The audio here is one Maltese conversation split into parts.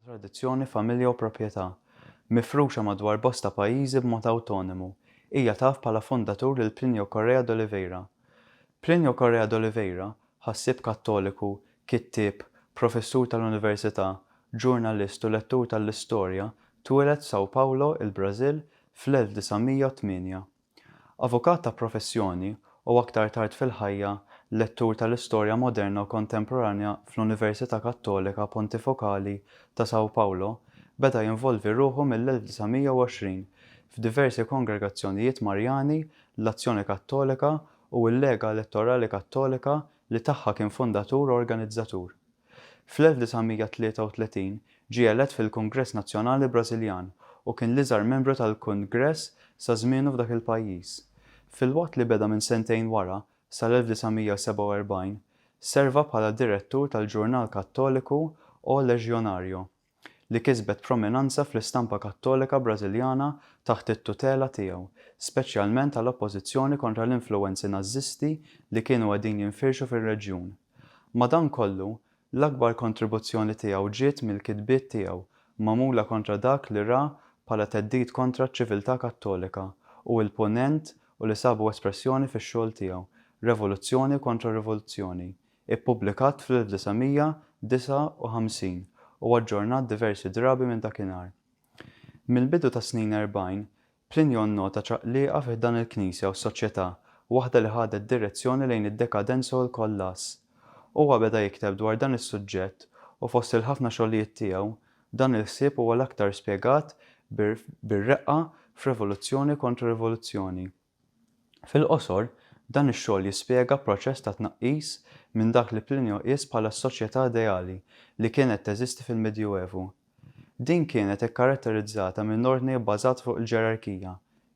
tradizzjoni, familja u proprjetà, mifruxa madwar bosta pajjiżi b'mod awtonomu, hija taf bħala fundatur lil Plinio Correa d'Oliveira. Plinio Correa d'Oliveira Ħassieb Kattoliku, kittieb, professur tal-università, ġurnalist u lettur tal-istorja, twieled f'São Paulo, il-Brażil, fl-1908. Avukat ta' professjoni u aktar tard fil-ħajja lettur tal-istorja moderna u kontemporanja fl-Università Kattolika Pontifokali ta' São Paulo, beda jinvolvi ruħu mill-1920 f'diversi kongregazzjonijiet Marjani, l-Azzjoni Kattolika u l-Lega Elettorali Kattolika li tagħha kien fundatur u organizzatur. Fl-1933 ġie elett fil-Kungress Nazzjonali Brażiljan u kien l-iżgħar membru tal-Kungress sa żmienu f'dak il-pajjiż. Filwaqt li beda minn sentejn wara, sal-1947, serva bħala direttur tal-ġurnal Kattoliku O Legionario. li kisbet prominanza fl-istampa Kattolika Brażiljana taħt it-tutela tiegħu, speċjalment għal oppożizzjoni kontra l-influwenzi Nażisti li kienu qegħdin jinfirxu fir-reġjun. Madankollu, l-akbar kontribuzzjoni tiegħu ġiet mill-kitbiet tiegħu magħmula kontra dak li ra bħala theddid kontra ċ-ċiviltà Kattolika u l-Punent u li sabu espressjoni fix-xogħol tiegħu Revoluzzjoni kontra Rivoluzzjoni, ippubblikat fl-1959 u aġġornat diversi drabi minn dakinhar. Mill-bidu tas-snin erbgħin, Plinjo nnota ċaqliqa fi ħdan il-Knisja u s-soċjetà, waħda li ħadet direzzjoni lejn id-dekadenza u l-kollass. Huwa beda jikteb dwar dan is-suġġett u fost il-ħafna xogħlijiet tiegħu, dan il-ħsieb huwa l-aktar spjegat bir-reqqa f'Revoluzzjoni kontra Rivoluzzjoni. Fil-qosor, dan ix-xogħol jispjega proċess ta' tnaqqis minn dak li Plinio qies bħala s-soċjetà ideali li kienet teżisti fil-Medjuevu. Din kienet ikkaratterizzata minn ordni bbażat fuq il-ġerarkija,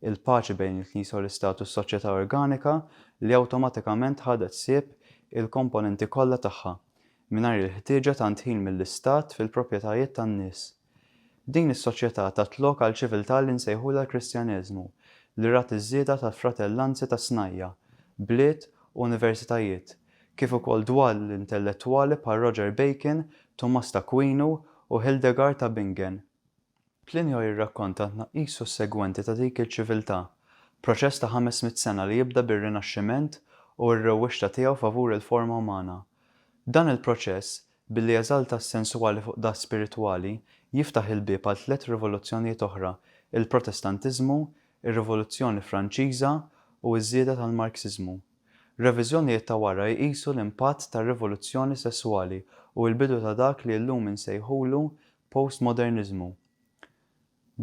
il-paċi bejn il-Knisja u l-Istat u s-soċjetà organika li awtomatikament ħadet ħsieb il-komponenti kollha tagħha, mingħajr il-ħtieġa tant ħin mill-Istat fil-proprjetajiet tan-nies. Din is-soċjetà tat lok għal ċiviltà li nsejħulha l-Kristjaneżmu, li rat iż-żieda tal-fratellanzi ta' snajja', bliet u universitajiet, kif ukoll dwal intellettwali bħal Roger Bacon, Tumas t'Akwinu u Hildegard ta' Bingen. Plinio jirrakkonta t-tnaqqis sussegwenti ta' dik il-ċiviltà, proċess ta' ħames mitt sena li jibda bir-Rinaxximent u r-rewwixta tiegħu favur il-forma umana. Dan il-proċess, Billi jeżalta s-sensuali fuq dak spiritwali, jiftaħ il-bieb għal tliet rivoluzzjonijiet oħra, il-Protestantiżmu, ir-Rivoluzzjoni Franċiża u ż-żieda tal-Marksiżmu. Reviżjonijiet ta' wara jqisu l-impatt tar-rivoluzzjoni sesswali u l-bidu ta' dak li llum insejħulu postmoderniżmu.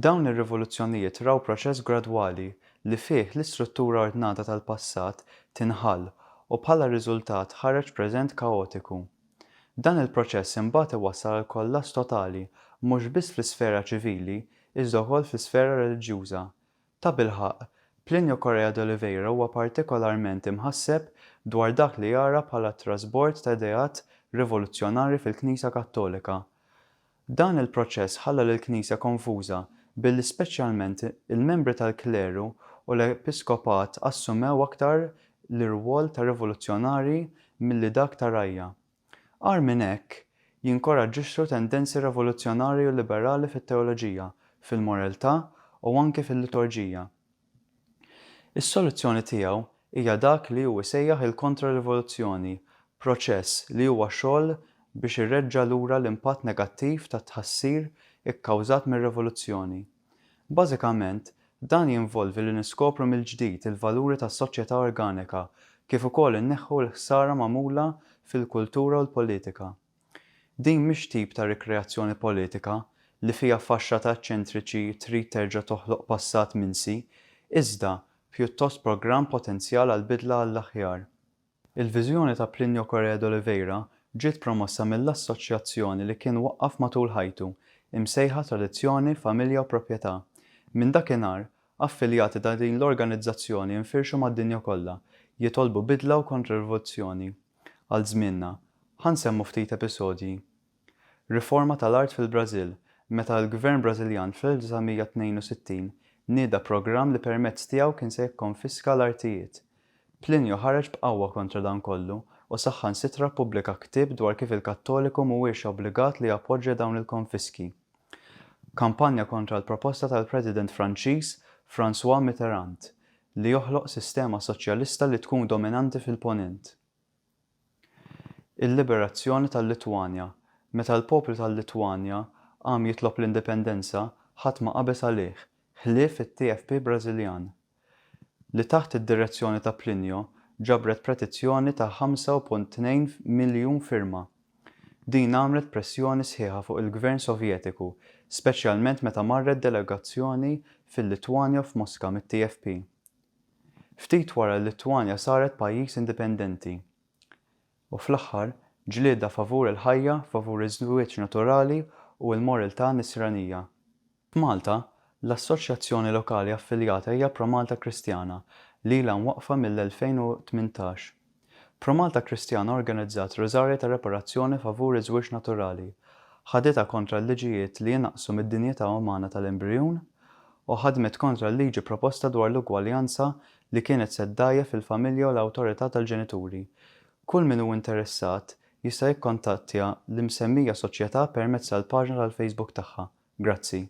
Dawn ir-rivoluzzjonijiet raw proċess gradwali li fih l-istruttura ordnata tal-passat tinħall u bħala riżultat ħareġ preżent kaotiku. Dan il-proċess imbagħad iwassal għal kollass totali mhux biss fl-isfera ċivili iżda wkoll fl-isfera reliġjuża. Tabilħaqq, Plinio Correia d'Oliveira huwa partikolarment imħasseb dwar dak li jara bħala t-trasbord ta' ideat rivoluzzjonarji fil-Knisja Kattolika, Dan il-proċess ħalla lill-Knisja konfuża billi speċjalment il-membri tal-kleru u l-episkopat assumew aktar l-irwol ta' rivoluzzjonarji milli dak ta' rgħajja. Agħar minn hekk, jinkoraġġixxu tendenzi revoluzzjonarji u liberali fit-teoloġija, fil-moreltà u anki fil-liturġija. Is-soluzzjoni tiegħu hija dak li hu jsejjaħ il-kontra-rivoluzzjoni, proċess li huwa xogħol biex ireġġa' lura l-impatt negattiv tat-tħassir ikkawżat mir-rivoluzzjoni. Bażikament, dan jinvolvi li niskopru mill-ġdid il-valuri tas-soċjetà organika kif ukoll inneħħu l-ħsara magħmula fil-kultura u l-politika. Din mhix tip ta' rikreazzjoni politika li fiha faxxa ta' eċċentriċi trid terġa' toħloq passat minsi, iżda pjuttost programm potenzjal għal bidla għall-aħjar. Il-viżjoni ta' Plinio Correa d'Oliveira ġiet promossa mill-assoċjazzjoni li kien waqqaf matul ħajtu, imsejħa Tradizzjoni, Familja u Proprjetà. Minn dakinhar, affiljati ta' din l-organizzazzjoni infirxu mad-dinja kollha, jitolbu bidla u kontririvoluzzjoni. għal żmienna, ħa nsemmu ftit episodji. Riforma tal-art fil-Brażil, meta l-Gvern Brażiljan fl-1962 nieda programm li permezz tiegħu kien se jikkonfiska l-artijiet. Plinju ħareġ b'qawwa kontra dan kollu u saħħansitra ppubblika ktieb dwar kif il-Kattoliku mhuwiex obbligat li jappoġġja dawn il-konfiski. Kampanja kontra l-proposta tal-President Franċiż François Mitterrand li joħloq sistema soċjalista li tkun dominanti fil-Ponent. Il-liberazzjoni tal-Litwanja, meta l-poplu tal-Litwanja qam jitlob l-indipendenza, ħadd ma qabeż għalih, ħlief it-TFP Brażiljan, li taħt id-direzzjoni ta' Plinio ġabret pretizzjoni ta' 5.2 miljun firma. Din għamlet pressjoni sħiħa fuq il-Gvern Sovjetiku, speċjalment meta marret delegazzjoni fil-Litwanja u f'Moska mit-TFP. Ftit wara l-Litwanja saret pajjiż indipendenti. U fl-aħħar, ġlieda favur il-ħajja, favur iż-żwieġ naturali u l-morltà Nisranija. F'Malta, l-assoċjazzjoni lokali affiljata hija Promalta Kristjana li ilha mwaqqfa mill-2018. Promalta Kristjana organizzat Rużarji ta' Reparazzjoni favur iż-żwieġ naturali, ħaditha kontra l-liġijiet li inaqqsu mid-dinjità umana tal-embrijun, u ħadmet kontra l-liġi proposta dwar l-ugwaljanza li kienet se ddgħajjef il-familja u l-awtorità tal-ġenituri. Kull min hu interessat jista' jikkontattja l-imsemmija soċjetà permezz tal-paġna tal-Facebook tagħha. Grazzi.